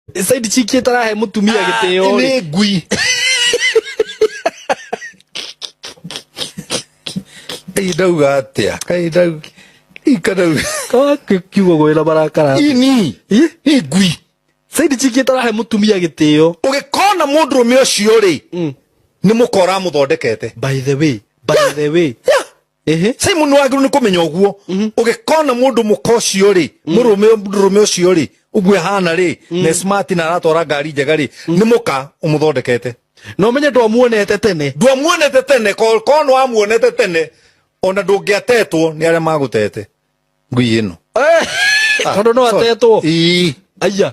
Nĩ side chick ĩtarahe mũtumia gĩtĩo rĩ. nĩ ngui Ĩĩ ndauga atĩa Hey, ndau. ika ndauga Kawa ki- kiugo gwĩ na marakara. ini Ih, nĩ ngui Side chick ĩtarahe mũtumia gĩtĩo. ũgĩkona mũndũrũme ũcio rĩ Mm. nĩ mũkora mũthondekete By the way, by the way. Yeah. Ehe. simon wagĩrĩirwo nĩ kũmenya ũguo ũgĩkona mũndũ mũka ũcio rĩ mũrũme mũrũme ũcio rĩ ũguo ehana rĩ na smart na aratwara ngari njega rĩ nĩ mũka ũmũthondekete na ũmenye ndwamuonete tene ndwamuonete tene ko- korwo nĩ wamuonete tene ona ndũngĩatetwo nĩ arĩa magũtete ngui ĩno tondũ no atetwo Ii. aiya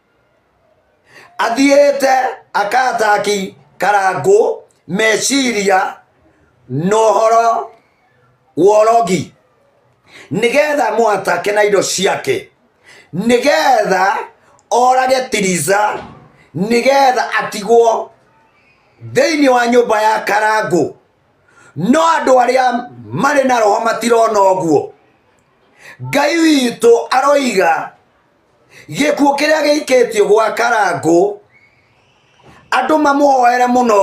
athiĩte akataki karangũ meciria na ũhoro wa ũrogi nĩgetha mũatake na indo ciake nĩgetha orage tiriza nĩgetha atigwo thĩinĩ wa nyũmba ya karangũ no andũ arĩa marĩ na roho matirona ũguo ngai witũ aroiga gĩkuũ kĩrĩa gĩikĩtio gwa karangũ andũ mamũhoere mũno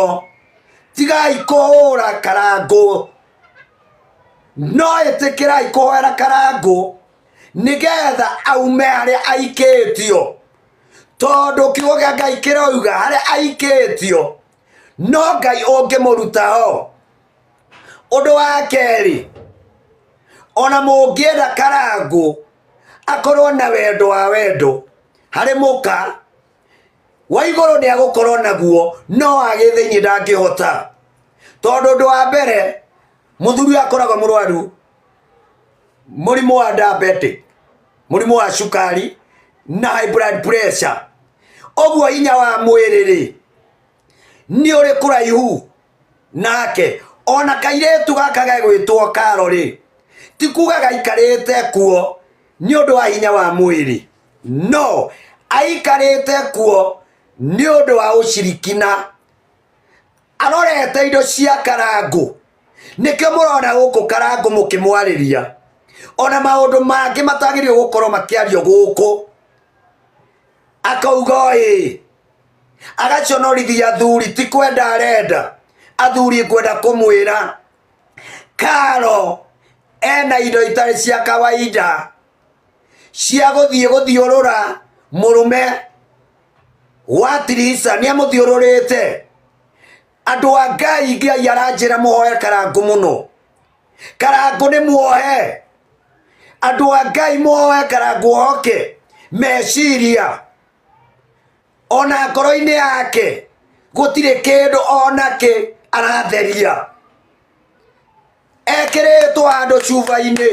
tigai kũhũra karangũ no ĩtĩkĩrai kũhoera karangũ nĩgetha aume harĩa aikĩtio tondũ kiugo gĩa ngai kĩroiga harĩa aikĩtio no ngai ũngĩmũruta o ũndũ wa kerĩ ona mũngĩenda karangũ akorwo na wendo wa wendo harĩ mũka wa igũrũ nĩ agũkorwo naguo no agĩthĩinĩ ndangĩhota tondũ ũndũ wa mbere mũthuri ũyũ akoragwo mũrwaru mũrimũ wa diabetic mũrimũ wa cukari na high blood pressure ũguo hinya wa mwĩrĩ rĩ nĩ ũrĩ kũraihu nake ona kairĩtu gaka gegwĩtwo karo rĩ ti kuga gaikarĩte kuo nĩ ũndũ wa hinya wa mwĩrĩ no aikarĩte kuo nĩ ũndũ wa ũcirikina arorete indo cia karangũ nĩkĩo mũrona gũkũ karangũ mũkĩmwarĩria ona maũndũ mangĩ matagĩrĩirwo gũkorwo makĩario gũkũ akauga ĩ agaconorithia athuri ti kwenda arenda athuri ngwenda kũmwĩra karo ena indo itarĩ cia kawaida cia gũthiĩ gũthiũrũra mũrũme wa tirisa nĩ amũthiũrũrĩte andũ a ngai ngai aranjĩra mũhoe karangũ mũno karangũ nĩ muohe andũ a ngai mũhoe karangũ oke meciria ona ngoro-inĩ yake gũtirĩ kĩndũ onakĩ aratheria ekĩrĩtwo handũ cuba-inĩ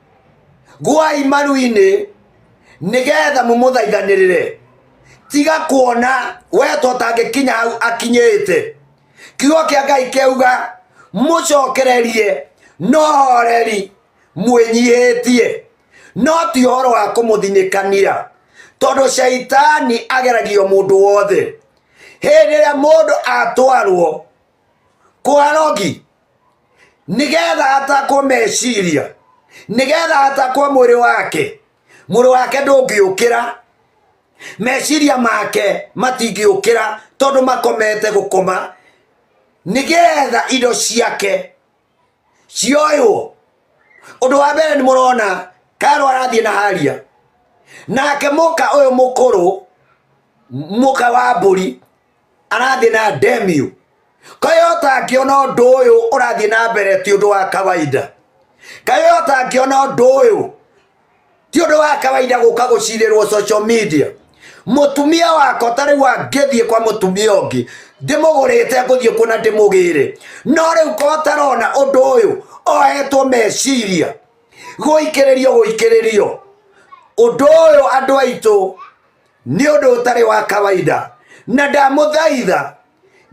gwai maru-inĩ nĩgetha mũmũthaithanĩrĩre tiga kuona we totangĩkinya hau akinyĩte kiugo kĩa ngai kĩauga mũcokererie no horeri mwĩnyihĩtie no ti ũhoro wa kũmũthinĩkania tondũ caitani ageragio mũndũ wothe hĩndĩ ĩrĩa mũndũ atwarwo kwarogi nigetha atakwo meciria nigetha atakwo mwĩrĩ wake mwĩrĩ wake ndũngĩũkĩra meciria make matingĩũkĩra tondũ makomete gũkoma nigetha indo ciake cioywo ũndũ wa mbere nĩ mũrona karo arathiĩ na haria nake mũka ũyũ mũkũrũ mũka wa mbũri arathiĩ na ndemio kayo ũtangĩona ũndũ ũyũ ũrathiĩ na mbere ti ũndũ wa kawaida kayo ũtangĩona ũndũ ũyũ ti ũndũ wa kawaida gũka gũcirĩrwo social media mutumia wako ta riu angithie kwa mutumia ungi ndimugurite nguthie kuna ndimugire no riu ko tarona undu uyu ohetwo meciria guikiririo guikiririo undu uyu andu aitu nĩ ũndũ ũtarĩ wa kawaida na ndamũthaitha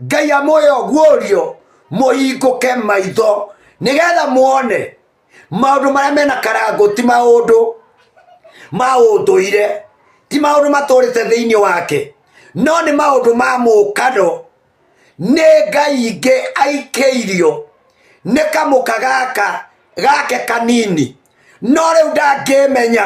ngai amũyo guorio mũhingũke maitho nĩgetha muone maũndũ marĩa mena karangũ ti maũndũ ma ũndũire ti maũndũ matũrĩte thĩinĩ wake no nĩ maũndũ ma mũkano nĩ ngai ingĩ aikĩirio nĩ kamũka gaka gake kanini no rĩu ndangĩmenya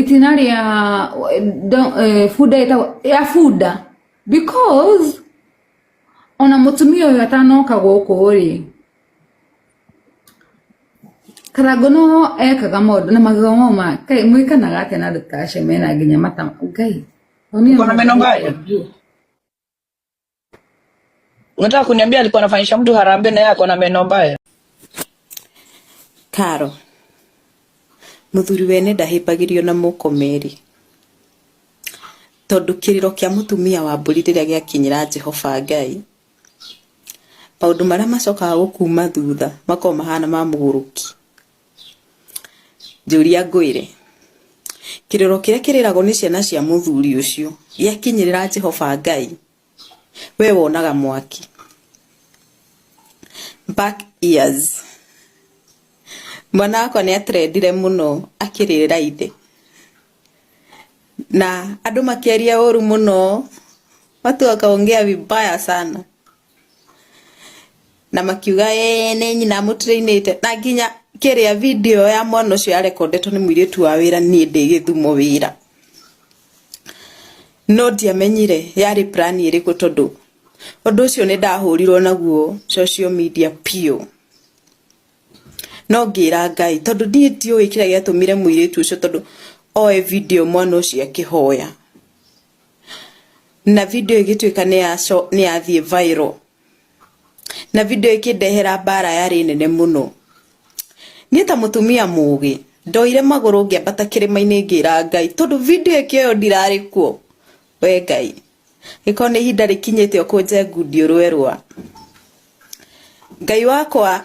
itinerary ya don- eh, fuda ĩtagwo- ya fuda because ona mũtumia ũyũ atanoka gũkũ rĩ karango no ekaga maũndũ na magego mau ma kai mwĩkanaga atĩa na andũ ta acio mena nginya matama ngai Uko na meno mbaya? Unataka kuniambia alikuwa anafanyisha mtu harambee na yeye ako na meno mbaya? Karo, muthuri wene ndahĩmbagĩrio na mũkomeri tondu kiriro kia mutumia wa mburi riria giakinyira Jehova Ngai maundu maria macokaga gukuma thutha makoragwo mahana ma muguruki Njũria ngwĩre, kĩrĩro kĩrĩa kĩrĩragwo nĩ ciana cia mũthuri ũcio gĩakinyĩrĩra Jehova Ngai? Wee wonaga mwaki? Back years. Mwana wakwa nĩ atrendire mũno akĩrĩrĩra ithe. Na andũ makĩaria ũru mũno, watu wakaongea vibaya sana. na makiuga ee nĩ nyina mũtirainĩte na nginya kĩrĩa video ya mwana ũcio yarekondetwo nĩ mũirĩtu wa wĩra niĩ ndĩ gĩthumo wĩra no ndiamenyire yarĩ plan ĩrĩkũ tondũ ũndũ ũcio nĩ ndahũrirwo naguo social media piũ no ngĩra ngai tondũ ndiĩ ndiũĩ kĩrĩa gĩatũmire mũirĩtu ũcio tondũ oe video mwana ũcio akĩhoya na video ĩgĩtuĩka nĩ yathiĩ viral na video ĩkĩndehera mbara yarĩ nene mũno niĩ ta mũtumia mũgĩ ndoire magũrũ ngĩambata kĩrĩma-inĩ ngĩra ngai tondũ video ĩkĩoyo ndirarĩ kuo we ngai gĩkorwo nĩ ihinda rĩkinyĩte ũkũnje ngundi ũrwe rwa ngai wakwa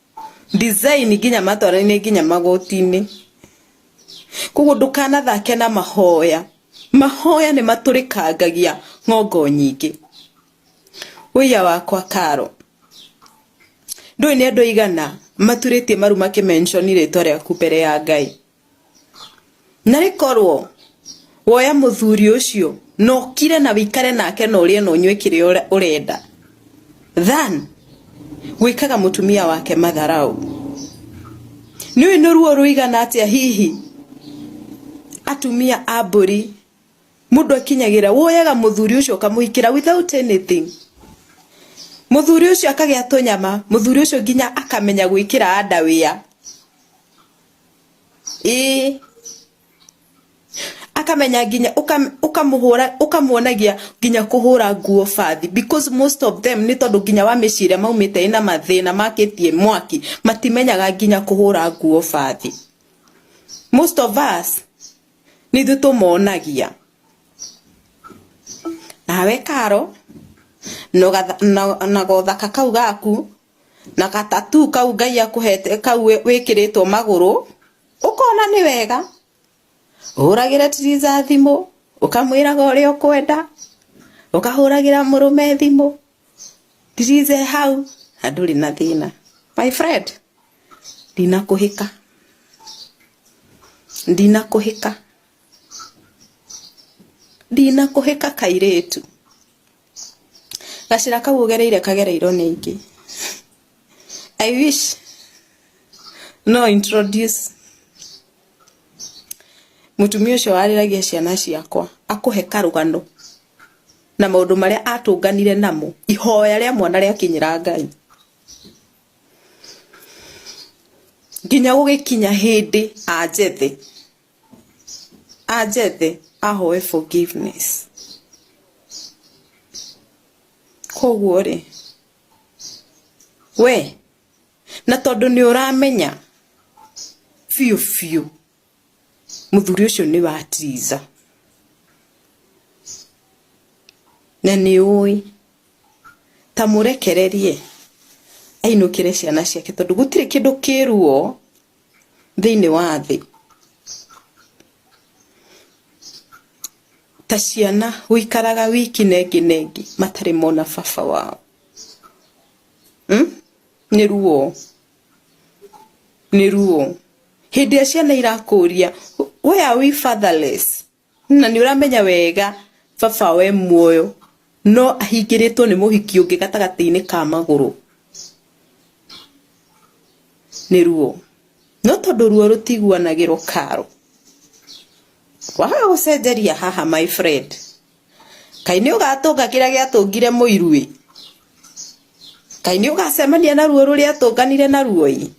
design nginya matwarainĩ nginya magotinĩ koguo ndũkanathake na mahoya mahoya nĩ matũrĩkangagia ng'ongo nyingĩ ũiya wakwa karo ndũĩ nĩ andũ aigana maturĩtie maru makĩmenshoni rĩtwa rĩaku mbere ya ngai Na rĩkorwo woya mũthuri ũcio na ũkire na wĩikare nake na ũrĩe na ũnyue kĩrĩa ũrenda than gwĩkaga mũtumia wake matharaũ. Nĩũĩ nĩ ruo rũigana atĩa hihi atumia a mbũri mũndũ akinyagĩra woyaga mũthuri ũcio ũkamũhikĩra without anything. Mũthuri ũcio akagĩa tũnyama, mũthuri ũcio nginya akamenya gwĩkĩra nda wĩa. ĩĩ akamenya nginya ũka- ũkamũhũra ũkamuonagia nginya kũhũra nguo bathi because most of them nĩ tondũ nginya wa mĩciĩ ĩrĩa maumĩte ĩna mathĩna makĩtie mwaki matimenyaga nginya kũhũra nguo bathi most of us nĩ ithuĩ tũmonagia nawe karo na ũgatha- na- na gothaka kau gaku na ga tattoo kau Ngai akũhete kau wĩ- wĩkĩrĩtwo magũrũ ũkona nĩ wega ũhũragĩre tiriza thimũ ũkamwĩraga ũrĩa ũkwenda ũkahũragĩra mũrũme thimũ tiriza e hau na ndũrĩ na thĩna my friend ndinakũhĩka ndinakũhĩka ndinakũhĩka kairĩtu Gacĩra kau ũgereire kagereirwo nĩ aingĩ. I wish no introduce mũtumia ũcio warĩragia ciana ciakwa akũhe karũgano na maũndũ marĩa atũnganire namo ihoya rĩa mwana rĩakinyĩra Ngai. Nginya gũgĩkinya hĩndĩ anjethe. anjethe ahoe forgiveness koguo rĩ we na tondũ nĩ ũramenya biũ biũ mũthuri ũcio nĩ wa tiza na nĩ ũĩ ta mũrekererie ainũkĩre ciana ciake tondũ gũtirĩ kĩndũ kĩruo thĩinĩ wa thĩ ta ciana gũikaraga wiki nengi nengi matarĩ mona baba wao hmm? nĩ ruo nĩ ruo hĩndĩ ĩrĩa ciana irakũria where are we fatherless Na nĩ ũramenya wega baba we muoyo no ahingĩrĩtwo nĩ mũhiki ũngĩ gatagatĩ-inĩ ka magũrũ nĩ ruo. No tondũ ruo rũtiguanagĩrwo karo, waga gũcenjeria haha my friend. Kaĩ nĩ ũgatũnga kĩrĩa gĩatũngire mũiru ĩ! Kaĩ nĩ ũgacemania na ruo rũrĩa atũnganire naruo ĩ!